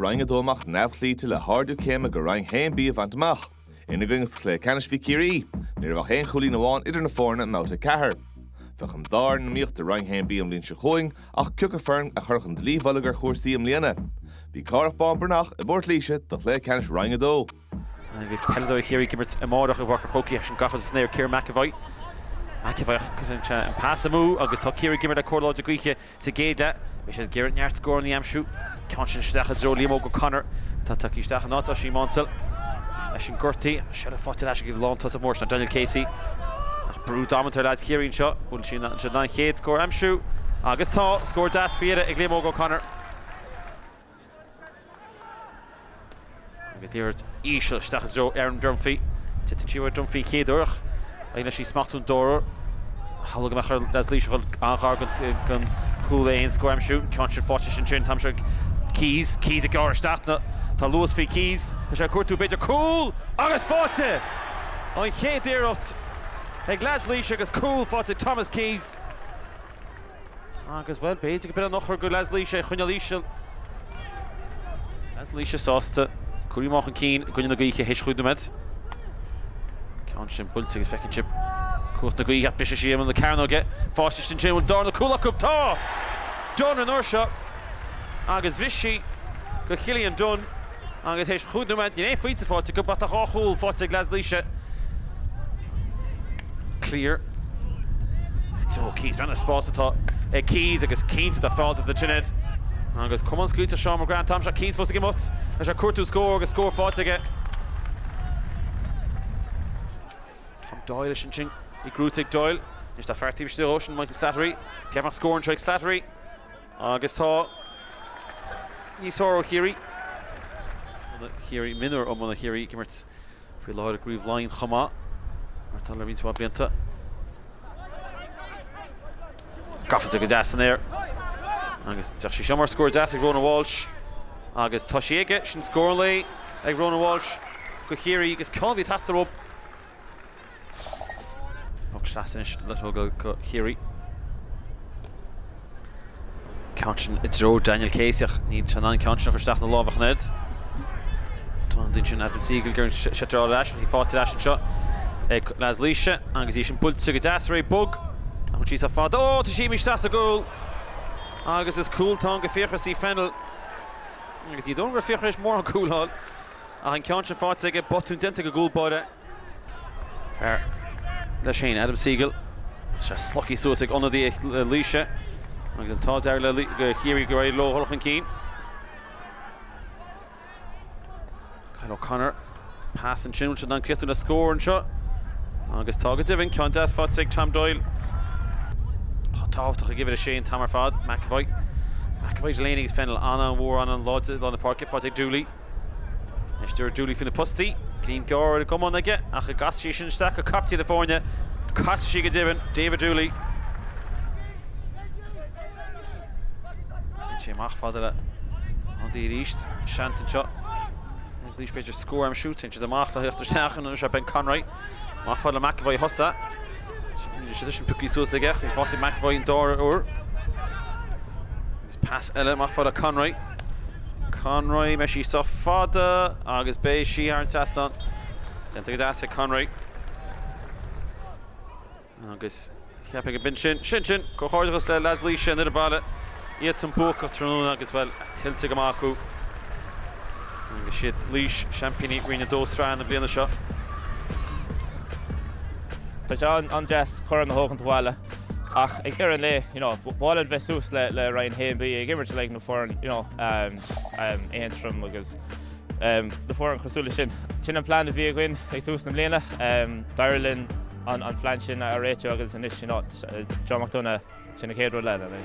Roinn a dó amach neamhchloíte le hardú céime go Roinn a haon B a bhaint amach. Ina gcoinne sa chluiche ceannais bhí Ciarraí. Ní raibh ach aon chúilín amháin idir na foirne i mBabhta 4. Bheadh an dá fhoireann ag iomaíocht i Roinn a haon B an bhliain seo chugainn ach cé acu foireann a chuirfeadh an dlaoi mhullaigh ar chúrsaí i mbliana. Bhí Cárthach Bán Breathnach i bPort Laoise do chluiche ceannais Roinn a dó. Beidh peileadóirí Chiarraí ag imirt amáireach i bPáirc an Chrócaigh ach sin gafa ard san aer, Ciarán McEvoy. McEvoy ach cuireann sé an pas amú agus tá Ciarraí ag imirt le cóir láidir gaoithe sa gcéad leath. Beidh siad ag iarraidh neart scóranna a aimsiú. Ceann sin isteach i dtreo Liam Óg O'Connor atá tagtha isteach in áit Oisín Maunsell leis an gcúrtaí. Seilbh faighte ar ais ag lántosaí mór Daniel Casey. Ach brú damanta ar leaids Chiarraí anseo. Bhfuil siad in ann an chéad scór a aimsiú agus tá! Scór deas faoi dheireadh ag Liam Óg O'Connor. Agus liathróid íseal isteach i dtreo Aaron Dunphy. Titeann sí roimh Dunphy a chéaduair ach éiríonn leis í a smachtú an dara huair. Shamhlaigh mé go raibh leaids Laoise ag goil an-ghar don chúl le haon scór a aimsiú. An ceann sin faighte sin sin Thomas Keyes. Keyes ag gearradh isteach. Tá luas faoi Keyes. Tá sé ag cuartú b'fhéidir cúl! Agus faighte! An chéad iarracht ag leaids Laoise agus cúl faighte ag Thomas Keyes. Agus, bhuel, b'fhéidir go b'in an eochair do leaids Laoise, í a choinneáil íseal. Leaids Laoise sásta cur amach chun cinn i gcoinne na gaoithe théis chúig nóiméad. Ceann sin buailte agus feiceann sibh cumhacht na gaoithe ag briseadh siar imeall na cearnóige. Fáisctear ansin, an bhfuil darna cúl acu? Tá! Dunne an uair seo agus bhris sí do Chillian Dunne. Agus tar éis chúig nóiméad, gné faighte fáilte go bata dhá chúl faighte ag leaids Laoise. Cleere. I dtreo Keyes, breathnaigh ar an spás atá ag Keyes agus cinnte tá fáilte do Trined. Agus cumann scaoilte Seán McGrath an t-am seo, Keyes fós ag imeacht, tá sé ag cuartú scór agus scór faighte aige. Tom Doyle is ansin i gcrúite ag Doyle, anois tá fear taobh istigh dhó, sin Michael Slattery, cheapfainn scór anseo ag Slattery. Agus tá níos fearr ó Chiarraí. Mionúir iomána Chiarraí ag imirt faoi láthair i gCraobh Laighean chomh maith, mar atá le roinnt mhaith blianta. Gabháilte go deas san aer. Agus féachann sí seo mar scór deas ag Rónan Walsh. Agus tá sí aige! Sin scór an lae ag Rónan Walsh do Chiarraí, agus ceann a bhí ag teastáil uathu. Puc sleasa anois le tógáil do Chiarraí. Ceann sin i dtreo Daniel Casey ach níl sé in ann an ceann sin a chur isteach ina láimh ach an oiread. Tá an duine sin Adam Segal gur seit ar ais ach í faighte ar ais anseo ag leaids Laoise agus í sin buailte go deas réidh bog ach an síos a' fad. Ó tá sí imithe isteach sa gcúl agus is cúl atá ann do Fiachra C Fennell agus ní dóigh liom go raibh Fiachra théis mórán cúl a fháil. Ach an ceann sin faighte aige, botún déanta ag an gcúl báire, fear leis féin, Adam Segal, agus é slogtha suas ag ionadaí Laoise agus an t-ádh dearg le Ciarraí gur éirigh leo dul chun cinn. Kyle O'Connor, pas ansin, an bhfuil siad in ann críochnú le scór anseo? Agus tá go deimhin, ceann deas faighte ag Tom Doyle, chomh tábhachtach ag uimhir a sé an t-am ar fad, McEvoy. McEvoy, Delaney agus Fennell, an-mhór, an-láidir lár na páirce, faighte ag Dooley. Anois Dooley faoin bposta, greim gearr ar an gcamán aige ach an gcasfaidh sí sin isteach go caiptín na foirne, casfaidh sí go deimhin, David Dooley. Téann sé amach fada le hanois arís, seans anseo ag Laois b'fhéidir scór ansiúd, téann siad amach le theacht isteach anois ar Ben Conroy, amach fada le McEvoy a thosaigh, sin sin pioctha suas aige, faighte McEvoy an dara huair. Pas eile amach fada, Conroy. Conroy, beidh sí sách fada agus beidh sí thar an trasnán. Déanta go deas ag Conroy. Agus chríochnaigh an binn sin, sin sin, comhghairdeachas le leaids Laoise, an fhoireann baile, iad san buacach tráthnóna agus bhuel, tuillte go maith acu. Agus is iad Laois, seaimpíní Roinn a Dó sraithe na bliana seo. Tá sé an-deas corn a thógaint abhaile. Ach ag deireadh an lae, you know, ba mhaith liom bheith suas le, le Roinn a hAon, bheith ag imirt le na foireann, you know, um, um, Aontroim agus um, na foireann cosúil sin. Sin an plan a bhí againn ag tús na mbliana. Um, D'éirigh linn an, an plan sin a réiteach agus anois is é an, uh, John McDonough sin an chéad rud eile.